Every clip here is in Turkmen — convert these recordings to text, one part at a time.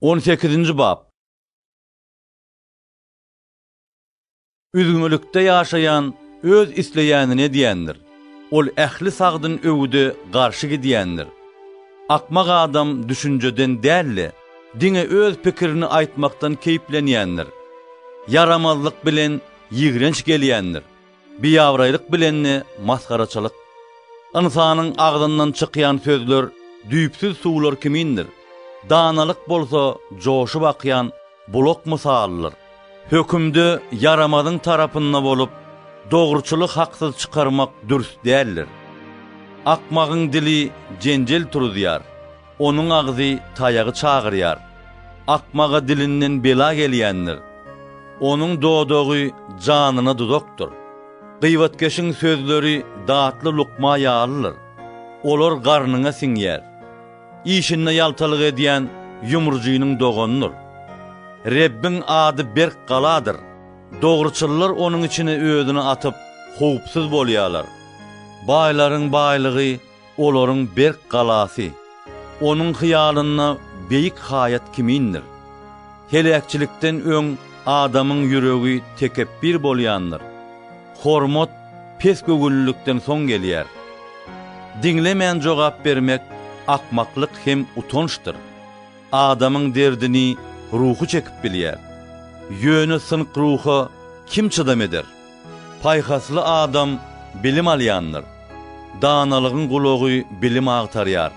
On sekizinji bap. Üzňülikde ýaşaýan öz isleýänini edýändir. Ol ähli sagdyn öwüde garşy gidýändir. Akmak adam düşünjeden däl-de, diňe öz pikirini aýtmakdan keýplenýändir. Ýaramazlyk bilen ýigrenç gelýändir. Biabraýlyk bilen-de masgaraçylyk. Ynsanyň agzyndan çykýan sözler düýpsüz suwlar kimindir, danalyk bolsa joşup akýan bulak mysalydyr. Hökümde ýaramazyň tarapynda bolup, dogruçyly haksyz çykarmak dürs däldir. Akmagyň dili jenjel turuzýar. Onuň agzy taýagy çagyrýar. Akmaga dilinden bela gelýändir. Onuň dodagy janyna duzakdyr. Gybatkeşiň sözleri datly lukma ýalydyr. Olar garnyňa siňýär. Işinde ýaltalyk edýän ýumrujynyň doganydyr. Rebbiň ady berk galadyr. Dogruçyllar onuň içine özüni atyp, howpsuz bolýarlar. Baýlaryň baýlygy Olaryň berk galasy Onuň hyýalynda beýik haýat kimindir. Heläkçilikden öň adamyň ýüregi tekepbir bolýandyr, hormat pesgöwünlilikden soň gelýär. Diňlemän jogap bermek akmaklyk hem utançdyr. Adamyň derdini ruhy çekip bilýär. Ýöne synk ruha kim çydam eder? Paýhasly adam bilim alýandyr. Danalygyň gulagy bilim agtarýar.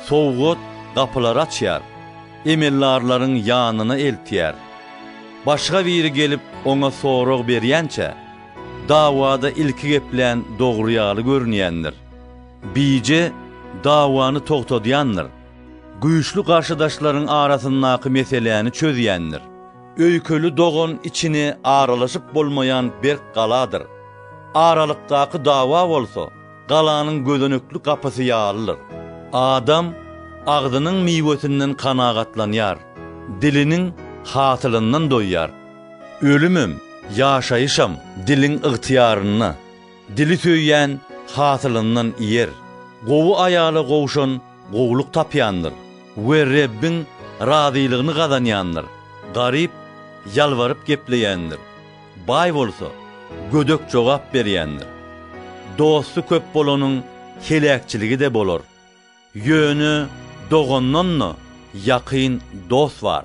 Sowgat gapylary açýar, emeldarlaryň ýanyna eltýär. Başga biri gelip oňa sorag berýänçä, dawada ilki geplän dogry ýaly görünýändir. Bije dawany togtadýandyr. Güýçli garşydaşlaryň arasyndaky meseläni çözýändir. Öýkeli dogan içine aralaşyp bolmaýan berk galadyr. Aralykdaky dawa bolsa, galanyň gözenekli gapysy ýalydyr. Adam agzynyň miwesinden kanagatlanýar, diliniň hasylyndan doýýar. Ölümem, ýaşaýyşam diliň ygtyýarynda. Dili söýýän hasylyndan iýer. Gowy aýala gowşan gowulyk tapýandyr we Rebbiň razylygyny gazanýandyr. Garyp ýalbaryp gepleýändir, baý bolsa, gödek jogap berýändir. Dosty köp bolanyň heläkçiligi-de bolar, ýöne dogandan-da ýakyn dost bar.